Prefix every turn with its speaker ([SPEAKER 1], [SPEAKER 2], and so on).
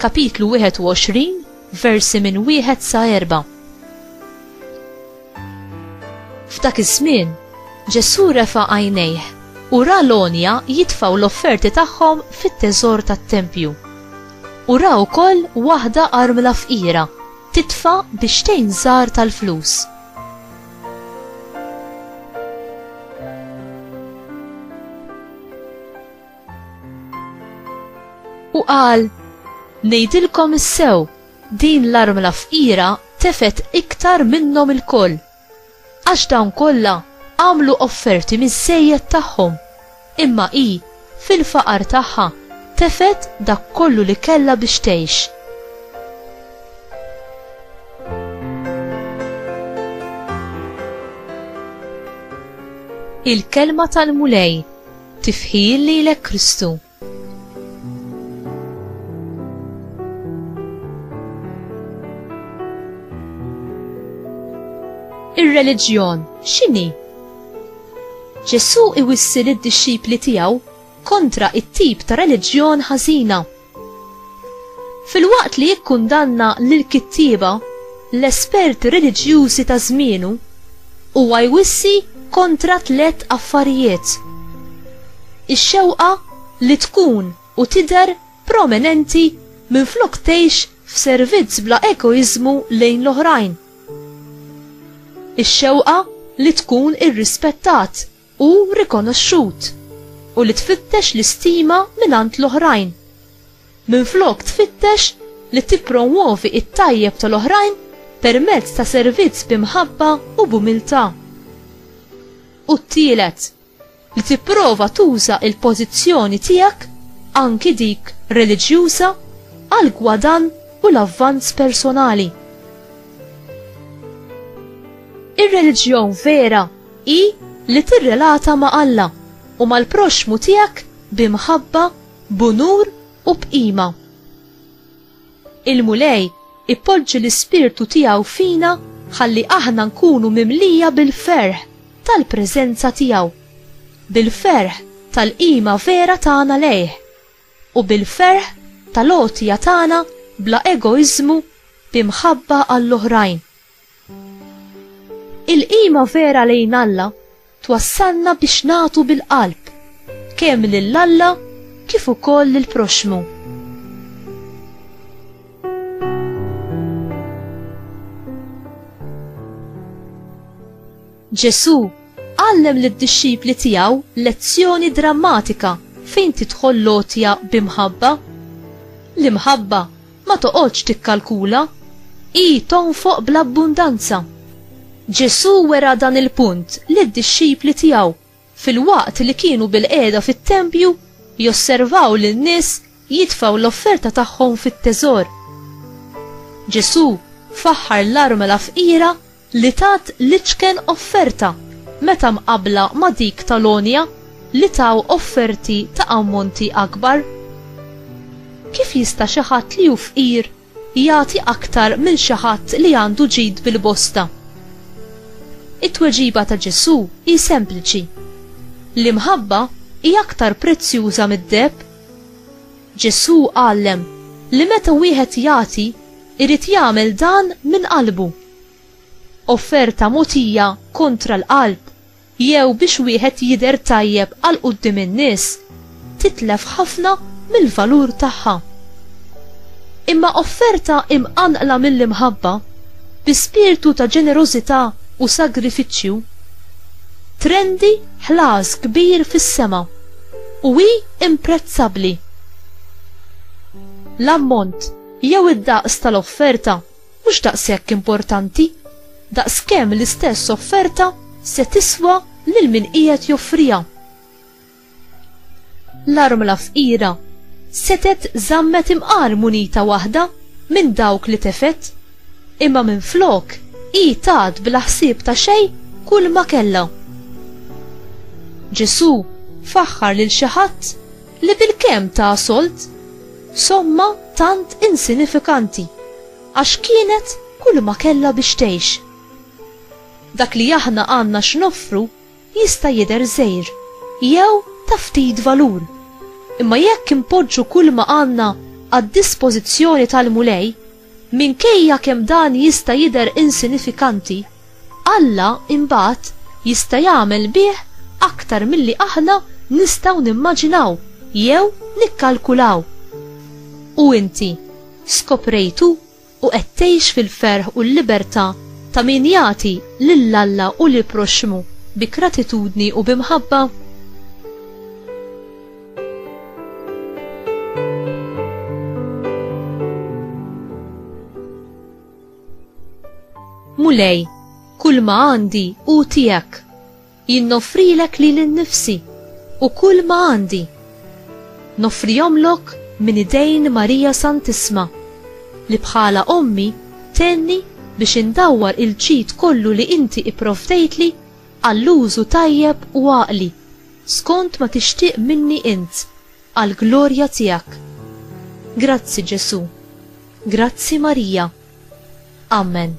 [SPEAKER 1] Kapitlu 21, versi minn wieħed sa erba'. F'dak iż-żmien, Ġesù refa' għajnejh u ra l-għonja jitfgħu l-offerti tagħhom fit-teżor tat-tempju. U ra wkoll waħda armla fqira titfa' biex tgħin żgħar tal-flus. U qal, Ngħidilkom is-sew, din l-armla fqira tefet iktar minnhom ilkoll. Għax dawn kollha għamlu offerti miż-żejjed tagħhom, imma hi fil-faqar tagħha tefet dak kollu li kellha biex tgħix. Il-kelma tal-Mulej Tifħir lilek Kristu. Ir-reliġjon x'inhi? Ġesù iwissi lid-dixxipli tiegħu kontra it-tip ta' reliġjon ħażina Filwaqt li jikkundanna lill-kittieba, l-esperti reliġjużi ta' żmienu, huwa jwissi kontra tliet affarijiet, ix-xewqa li tkun u tidher prominenti minflok tgħix f'servizz bla egoiżmu lejn l-oħrajn, ix-xewqa li tkun irrispettat, u rikonoxxut u li tfittex l-istima mingħand l-oħrajn, minflok tfittex li tippromwovi t-tajjeb tal-oħrajn permezz ta' servizz bi mħabba u b'umiltà. U t-tielet, li tipprova tuża l-pożizzjoni tiegħek, anki dik reliġjuża, għall-gwadann u l-avvanz personali. Ir-reliġjon vera hi li tirrelata ma' Alla u mal-proxxmu tiegħek bi mħabba, b'unur u b'qima. Il-Mulej ipoġġi l-ispirtu tiegħu fina ħalli aħna nkunu mimlija bil-ferħ tal-preżenza tiegħu, bil-ferħ tal-qima vera tagħna lejh, u bil-ferħ tal-għotja tagħna bla egoiżmu bi mħabba għall-oħrajn. Il-qima vera lejn Alla twassalna biex nagħtu bil-qalb, kemm lil Alla kif ukoll lill-proxxmu. Ġesù għallem lid-dixxipli tiegħu lezzjoni drammatika fejn tidħol l-għotja bi mħabba. L-imħabba Ma toqgħodx tikkalkula, hi tonfoq bl-abbundanza. Ġesù wera dan il-punt lid-dixxipli tiegħu filwaqt li kienu bilqiegħda fit-tempju josservaw lin-nies jitfgħu l-offerta tagħhom fit-teżor. Ġesù faħħar l-armla fqira li tat l-iċken offerta meta mqabbla ma' dik tal-għonja li taw offerti ta' ammonti akbar? Kif jista' xi ħadd li hu fqir jagħti aktar minn xi ħadd li għandu ġid bil-bosta? It-tweġiba ta' Ġesù hi sempliċi, L-imħabba hi aktar prezzjuża mid-deheb. Ġesù għallem li meta wieħed jagħti, irid jagħmel dan minn qalbu. Offerta mogħtija kontra l-qalb jew biex wieħed jidher tajjeb għal quddiem in-nies titlef ħafna mill-valur tagħha. Imma offerta imqanqla mill-imħabba, bi spirtu ta' ġenerożità u sagrifiċċju, trendi ħlas kbir fis-sema. u hi imprezzabbli. L-ammont jew id-daqs tal-offerta mhux daqshekk importanti daqskemm l-istess offerta se tiswa lil min qiegħed joffriha. L-armla fqira setgħet żammet imqar munita waħda minn dawk li tefgħet Imma minflok hi tat bla ħsieb ta' xejn kull ma kellha. Ġesù faħħar lil xi ħadd li bilkemm ta sold somma tant insinifikanti għax kienet kull ma kellha biex tgħix. Dak li aħna għandna x'noffru jista' jidher żgħir jew ta' ftit valur, imma jekk inpoġġu kull ma għandna għad-dispożizzjoni tal-Mulej, Minkejja kemm dan jista' jidher insinifikanti, Alla imbagħad jista' jagħmel bih aktar milli aħna nistgħu nimmaġinaw jew nikkalkulaw. U inti, skoprejtu u qed tgħix fil-ferħ u l-libertà ta' min jagħti lil Alla u lill-proxxmu bi gratitudni u bi mħabba? Mulej, kull ma għandi u tijak, jinnofrilek li l-nifsi u kull ma għandi. Nofrijomlok minn idejn Marija Santisma, li bħala ommi tenni biex indawwar il-ġid kollu li inti ipprovdejtli għall-użu tajjeb u għaqli, skont ma tixtieq minni int, għall-glorja tiegħek. Grazzi, Ġesù. Grazzi, Marija. Amen.